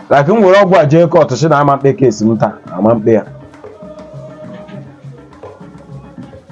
like m were ọgwụ a jee kọtụ si na ama m ekpe kesi m taa ama m ekpe ya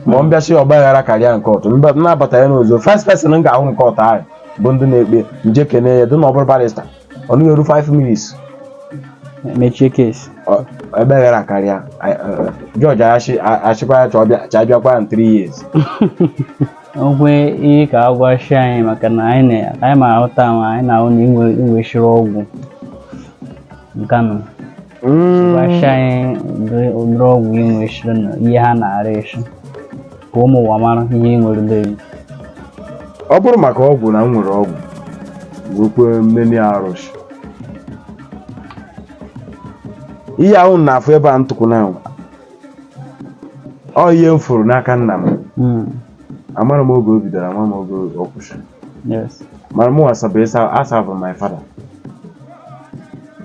ma ọ mbịasị ọgba aghara karịa na kọtụ mgbe m na-abata ya n'ụzọ first person m ga-ahụ na kọtụ ahụ bụ ndị na-ekpe m jee kene ya dị na ọ bụrụ barista ọ naghị eru 5 minutes mechie kesi ọ- ebe aghara karịa jọji achịkwa ya chọọ bịa- cha bịakwa ya in 3 years ọgwụ ị ka agwachi anyị maka na anyị ma ahụta ahụ anyị na-ahụ na i nwechiri ọgwụ nkanụ mm. gwachi anyị ụdịrị ọgwụ i nwechiri na ihe ha na-arụchi ka ụmụ ụwa mara ihe ị nwere deri ọ bụrụ maka ọgwụ na m nwere ọgwụ wekwe mmeni arụsị ihe a ụnụ na-afụ ebe a ntụkwụ na ọ ihe m fụrụ n'aka nna m mm. amara m oge o bidoro ama m oge ọ kwụsịrị mara ụwa asabụ my father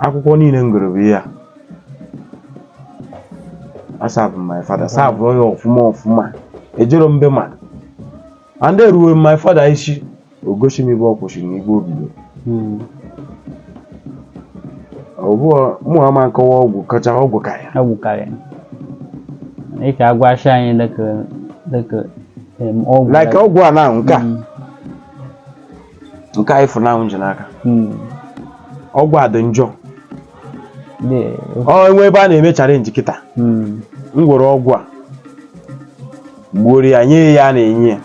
akwụkwọ niile m gụrụ bụ ihe a asabụ my father sabụọ ya ọfụma ọfụma ejero m be ma and then ruo my father isi o gosi m ebe ọ kwụsị na ebe o bido hmm. ọ bụ mụwa ma nkọwa ọgwụ kacha ọgwụ karịa ọgwụ karịa ị ka agwachi anyị dịka ọgwụ like ọgwụ a na nke a hmm. nke anyị fụrụ n'ahụ ji n'aka Hmm. ọgwụ a dị njọ Dị- o nwee ebe a na-eme challenge kịta Hmm. m gwere ọgwụ a gbuoro ya nye ya a na-enye ya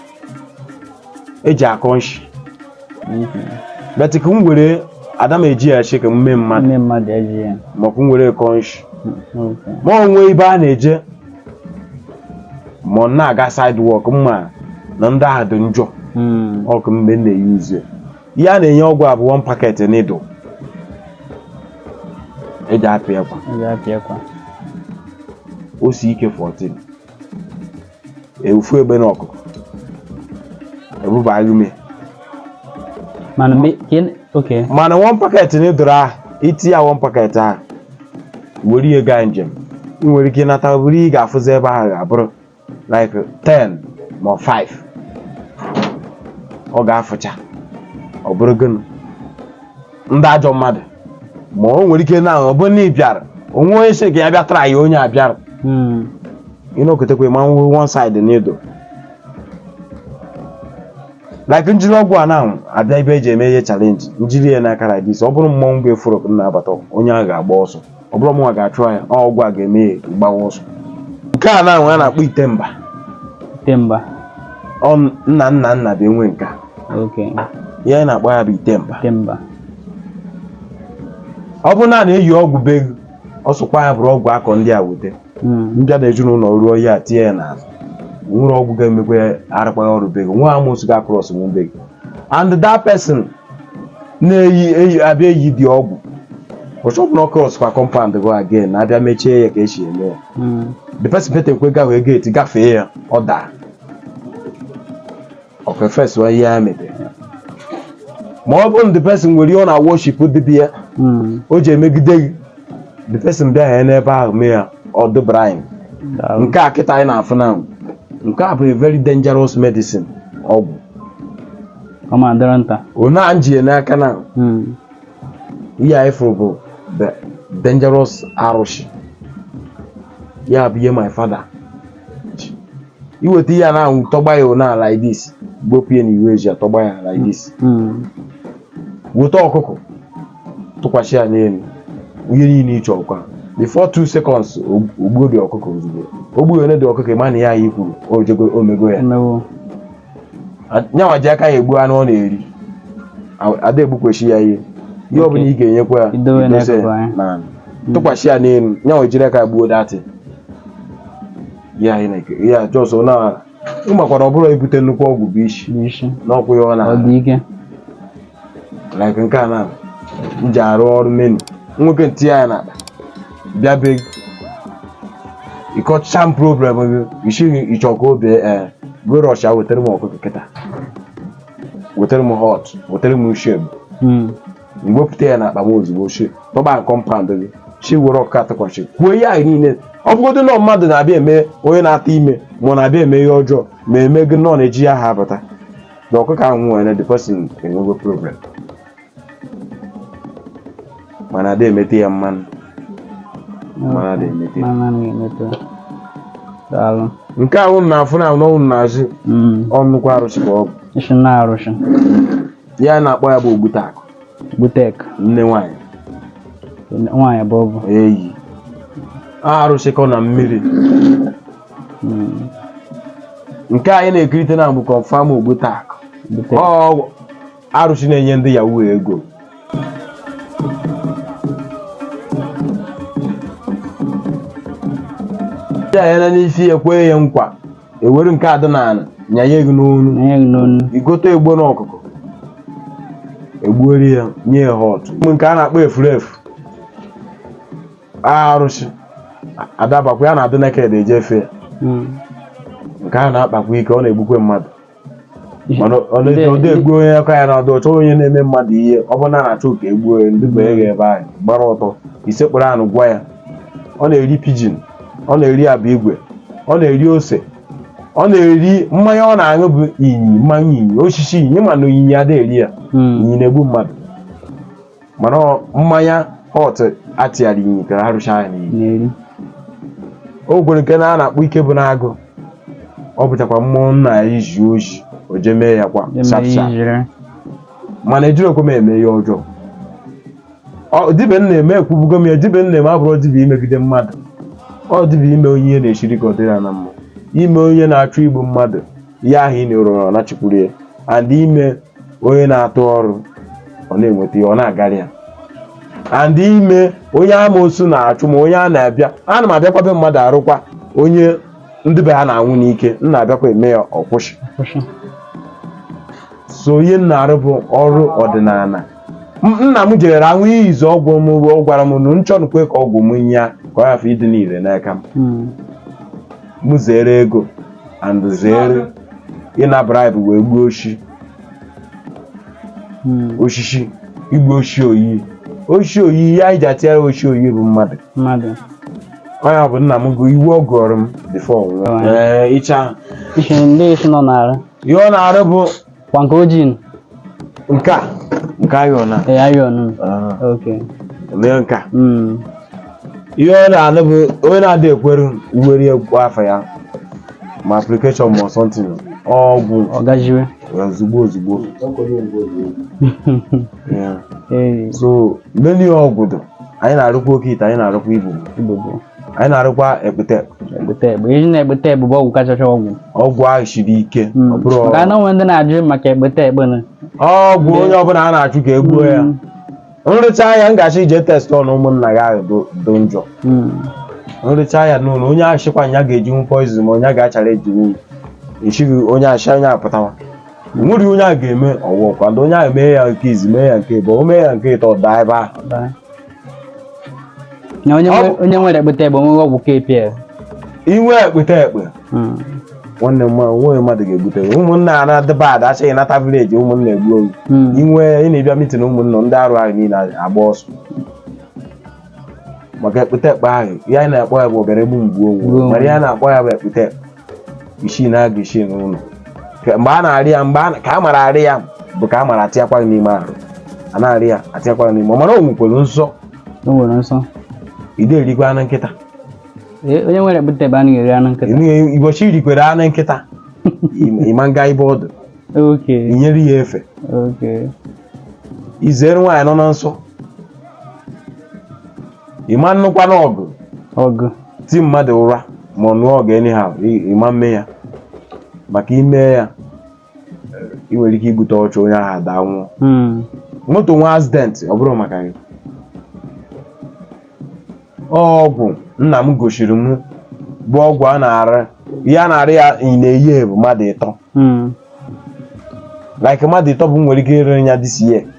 eji akọ nshi but ka m were ada m eji ya chị ka m mee mmadụ Ndị mmadụ eji ya. maọbụ m were kọ nshi Okay. ma o nwee ebe a na-eje ma ọ na-aga side ọ ka mma na ndị ahụ dị njọ Mm. ọ kwa mgbe m na-euse ihe a na-enye ọgwụ a bụ one packet needle eji apị akwa Ọ ga-apịa akwa. o si ike 14 efu egbe na ọkụkụ ebubaghị ume Mana mgbe ka ị- okay. mana one packet needle ahụ i tiye one packet ahụ were ya gaa njem ị nwere ike ị nata bụrụ ị ga-afụzi ebe ahụ ga-abụrụ like 10 ma 5 ọ ga-afụcha ọ bụrụ gịnị ndị ajọ mmadụ ma o nwere ike na ọ bụrụ na ị bịara o nwee onye sị ka ya bịa try ya onye a bịara mm, ịnọkọtakwa ma nwe one side needle like m jiri ọgwụ a na abịa ibe e ji eme ihe challenge m jiri ya n'aka like this ọ bụrụ mmọnwụ before m na-abata onye ahụ ga-agba ọsọ ọ bụrụ mụnwa ga-achụ ya ọgwụ a ga-eme ya gbawa ọsọ nke a nụnwa a na-akpọ ite mba ite mba ọ nna nna nna bụ enwe nke a okay ihe anyị na-akpọ ya bụ ite mba ite mba ọ bụrụ na a na-eyi ọgwụ be gị ọ sụkwa ya bụrụ ọgwụ akọ ndị a wete m bịa na ezinụlọ rụọ ya tinye ya n'ala nwere ọgwụ ga-emekwa ya arụkwaghị ọrụ be gị nwa amụsụ ga-cross nwe be gị and that person na-eyi eyi abịa eyi the ọgwụ ọ chọpụ na ọ cross kwa compound gị again na abịa mechie ya ka e si eme ya the person pụtakwa gahụ gate gafee ya ọ daa ọkwa fes wa ihe a mebere ma ọ bụrụ na the person nwere ihe ọ na-worship dibịa Mm. o ji emegide gị the person bịa ya n'ebe ahụ mee ya ọ dụbara anyị Daalụ. nke a kịta anyị na-afụ na nke a bụ a very dangerous medicine ọgwụ Ọ ma dịrị nta. onye a m ji ya n'aka na Mm. ihe anyị fụrụ bụ the dangerous arụsị ya bụ ihe my father i weta ihe a nụnwa tọgba ya n'ala like this gbopụ ya na ibe e ji atọgba ya like this weta ọkụkọ tụkwasị ya n'elu ihe niile ị chọrọ kwa before two seconds o gbuo the ọkụkọ ozugbo o gbuola the ọkụkọ ị ma na ihe anyị kwuru o jego o mego ya Emewo. nyanwa ji aka ya egbu anụ ọ na-eri a da egbukwasị ya ihe ihe ọ bụla ị ga-enyekwa ya Idowe idose n'akụkụ anyị. na tụkwasị ya n'elu nyanwa jiri aka gbuo that ihe anyị na-eke ihe a just na ị makwara ọ bụrụ i bute nnukwu ọgwụ bụ isi n'isi n'ọkwụ ya ọ na ọ dị ike like nke a na m ji arụ ọrụ m nwee ike tinye ya n'akpa bịa be gị ị kọchaa m problem gị isi gị ị chọ ka obi ee go rọsha wetara m ọkụkọ kịta wetara m hot wetara m sheb Hmm. wepụta ya n'akpa m ozugbo shi tọba compound gị shi were ọkụkọ tụkwasị kwuo ihe anyị niile ọ bụgodu na ọ mmadụ na-abịa eme onye na-ata ime ma ọ na-abịa eme ihe ọjọọ ma eme gị nọ na-eji ya ha abata na ọkụkọ ahụ nwere na the person enwego problem mana a da emetụ ya mmanụ mmanụ a da emetụ ya Mama na-emeto. Daalụ. nke ahụ na-afụ na ahụ n'azụ Mm. ọ nnukwu arụsị ka ọ bụ Isi na arụsị. ihe a na-akpọ ya bụ ogbute akụ Butek. nne nwaanyị Nwaanyị bụ ọ bụ. eyi arụsị kọ na mmiri hmm. nke anyị na-ekirite na bụ confam ogbute akụ ọgwụ arụsị na-enye ndị yahoo ego ndị anya na n'isi ekwe ya nkwa ewere nke adị n'ala nyanye gị n'ọnụ ị gote egbene ọkụkọ egbuoro ya nye ya hot nke a na-akpọ efurefu arụsị adabakwa ya na-adị naked eje efe ya Mm. nke a na-akpakwa ike ọ na-egbukwe mmadụ mana ọ na- Ndị- ọ na-egbu onye aka ya na-adụghị ọcha onye na-eme mmadụ ihe ọ bụrụ na a na-achọ ka e gbuo onye ndị bụ eje ebe ahụ ị gbara ọtọ i sekpuru anị gwa ya ọ na-eri pigeon ọ na-eri abụ igwe ọ na-eri ose ọ na-eri mmanya ọ na-aṅụ bụ inyi mmanya inyi osisi inyi mana inyi adịghị eri ya Mm. inyi na-egbu mmadụ mana mmanya hot atịgharị nyitere arụcha ya n'iyi o nwere nke na a na-akpọ ike bụ n'agụ ọ bụchakwa mmụọ nna ya iji oji o jee mee ya kwa sapsa mana ejirọkwa m eme ihe ọjọọ dibịa m na-eme ekwubugo m ya dibịa m na-eme abụrọ dibịa imegide mmadụ ọ dibịa ime onye ihe na-esiri ka ọ dịrị ya mma ime onye na-achọ igbu mmadụ ya ahụ ị na-erọrọ na chikwuru ya and ime onye na-atụ ọrụ ọ na-enweta ya ọ na-agara ya and ime onye amoosu na-achụ ma onye a na-abịa ana m abịakwa be mmadụ arụkwa onye ndị be ha na-anwụ n'ike m na-abịakwa eme ya ọ kwụsị so ihe m na-arụ bụ ọrụ ọdịnala M- nna m jere anwụ iyi izu ọgwụ m ọ gwara m na m chọnụkwa ka ọgwụ m nye ya ka ọ yafe ịdị n'ire n'aka m Mm. m zere ego and zere ịna bribe wee gbuo oshi hmm. osisi igbu oshi oyi oshi oyi ihe anyị ji atịara oshi oyi bụ mmadụ mmadụ onye ọ bụ nna m gụ iwu ọ gụọrọ m before ọ nwụọ ịcha ihe ndị isi nọ na-arụ ihe ọ na-arụ bụ kwanka ojii nke a nke ayọ na ee ayọ nụ oke lee nke a mm. ihe ọ na-arụ bụ onye na-adị ekwere i were gụọ afa ya ma application ma something ọgwụ ọ gajiwe ozugbo ozugbo so many ọgwụ dụ anyị na-arụkwa oke ite anyị na-arụkwa ibu anyị na-arụkwa ekpete egbute egbe iji na-egbute egbe bụ ọgwụ kachacha ọgwụ ọgwụ ahụ siri ike ọ bụrụ maka na o nwe ndị na-ajụ maka egbute egbe na ọgwụ onye ọbụla a na-achụ ka e gbuo ya m rụcha ya m ga-asị ị jee test ọnụ ụmụnna gị ahụ dị- dị njọ Mm. m rụcha ya n'ụlọ onye ahụ sịkwa ya ga-ejinwu poison ma onye a ga-achara ejinwu echighị onye achịcha onye apụtawa nwere onye a ga-eme ọwụwa kwado onye ahụ mee ya nke izizi mee ya nke ịbụọ mee ya nke ịtọ ọ daa ebe ahụ Bye. na onye Ọ nwe- bụ- onye nwere ekpete ekpe onweghị ọgwụ KPL inwe ekpete ekpe Mm. nwanne m nwa- nweghị mmadụ ga-ebute gị. ụmụnna a na-adịba ada achịghị nata vileji ụmụnna egbuo gị Mm. inwe ị na-abịa mitin ụmụnna ndị arụ ahụ niile agbaa ọsọ maka ekpete ekpe ahụ ihe anyị na-akpọ ya bụ obere egbu mgbu Mgbu onwe onwe. mana ihe a na-akpọ ya bụ ekpete ekpe isi n'agụ isi n'ụlọ Ka- mgbe a na-arị ya mgbe a na- ka a mara arị ya bụ ka a mara atịakwa gị n'ime arụ a na-arị ya atịakwa gị n'ime ọ mana o nwekwara nsọ o nwere nsọ ị da erikwa anụ nkịta Ee, onye nwere ekpete ekpe ada eri anụ nkịta Enu- ụbọchị i rikwara anụ nkịta ị- ịma nga ebe ọ dụ okay i nyere ya efe okay i zere nwaanyị nọ na nsọ ịma nnụkwanụ ọgụ ọgụ ti mmadụ ụra ma ọ nụọ ọgụ anyhow ị- ịma mme ya maka i mee ya ị nwere ike igbuta ọchụ onye ahụ adaa nwụọ Mm. moto nwee accident ọ bụrụ maka gị ọgwụ nna m gosiri m bụ ọgwụ a na-ara ihe a na-ara ya na year bụ mmadụ ịtọ Mm. like mmadụ ịtọ bụ m nwere ike ịrịrị ya this year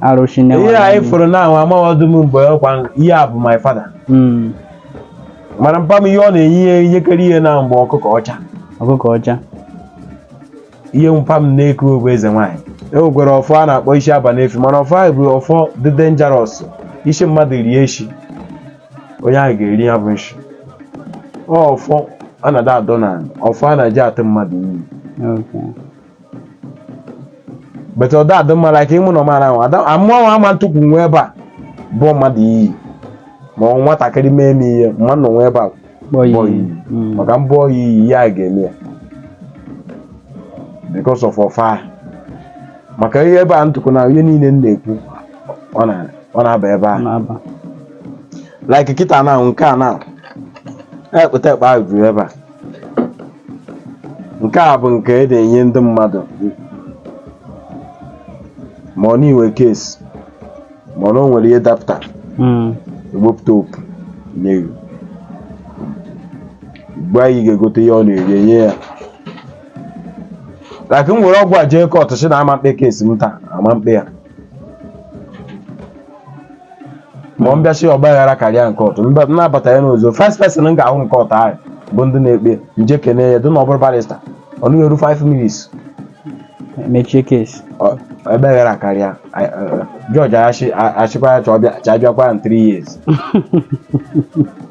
arụsị na ihe anyị fụrụ na ahụ amaghị ọdụ m mgbe ọkwa ihe a bụ my father Mm, mana mpa m ihe ọ na-enye ihe ihe kere ihe na-abụ ọkụkọ ọcha ọkụkọ ọcha ihe mpa m na-eku bụ eze nwaanyị e nwekwara ọfọ a na-akpọ isi aba n'efi mana ọfọ ahụ bụ ọfọ dị denjarọs ị sị mmadụ rie nshi onye ahụ ga-eri ya bụ nshi Ọ ọfọ a na-ada adọ na ọfọ a na-eji atụ mmadụ iyi Okay. but ọ da adị mma like mụ nwa mara ahụ amụọ ama ntukwu n'ebe a bụọ mmadụ iyi ma ọ nwatakịrị mee m ihe m ma nọ n'ebe a mm. maka m bụọ ya iyi ya ga-eme ya because of ọfa maka ihe ebe a m tukwu na ihe niile m na-ekwu ọ na-aba ebe a like kịta na nke a na ekpete ekpe ahụ juru ebe a nke a bụ nke e na-enye ndị mmadụ ma ọ na-enwe case ma ọ na o nwere ihe dapụta Mm. ewepụta opu nye gị mgbe anyị ga-egote ihe ọ na-eri enye ya like m were ọgwụ a jee kọt sị na ama mkpe case m taa ama mkpe ya ma ọ m bịa sị ọgba aghara karịa na kọt mgbe m na-abata ya n'ụzọ first person m ga-ahụ na kọt ahụ bụ ndị na-ekpe m jee kene ya dị na ọ bụrụ barista ọ naghị eru 5 minutes mechie case ọgba aghara akarịa I- uh, judge asị- asịkwa ya chọọ bịa- cha bịakwa in 3 years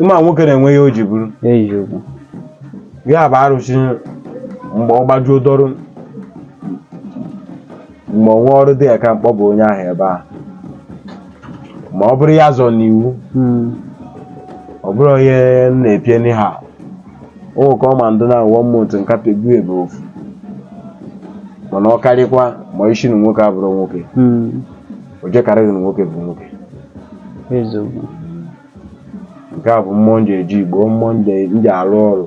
ịma nwoke na-enwe ihe o ji bụrụ eziokwu ya bụ arụsị mgbe ọ gbajuo dọrụ mgbe ọ nwe ọrụ dị ya ka mkpọ bụ onye ahụ ebe a ma ọ bụrụ ya zọ n'iwu Mm. ọ bụrụ onye m na-apịa n'ihe nwoke ọ ma ndụ na one month ka pegbu ebe ofu mana ọ karịkwa ma isi na nwoke abụrụ nwoke Mm. o jekarịghị na nwoke bụ nwoke eziokwu nke a bụ mmụọ nji eji igbo mmụọ nji nji arụ ọrụ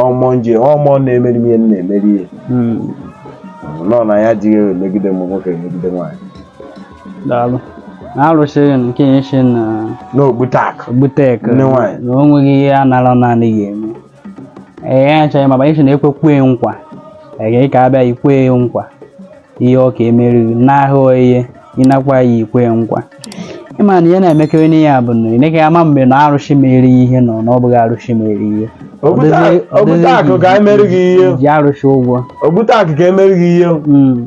ọ mmụọ nji ọ mmụọ na-emeri m ihe m na-emeri ihe Mm, nọ na ya jighị ewe megide m nwoke megide nwaanyị daalụ na arụsị nke ya esi na n'ogbute akụ ogbutek Ndị nwaanyị. na o nweghị ihe a nara naanị ya eme ee achọghị ma banyere na ekwekwe nkwa agaghị ka abịa ikwe nkwa ihe ọ ka emeriri n'ahụ ihe ị na-ekwe ya ikwe nkwa ịma na ihe na-emekarị n'ihe a bụ na ị naghị ama mgbe na arụsị mere ihe nọ na ọ bụghị arụsị mere ihe Ogbute akụ ka emeri gị ihe ji arụsị ụgwọ Ogbute akụ ka emeri gị ihe Mm.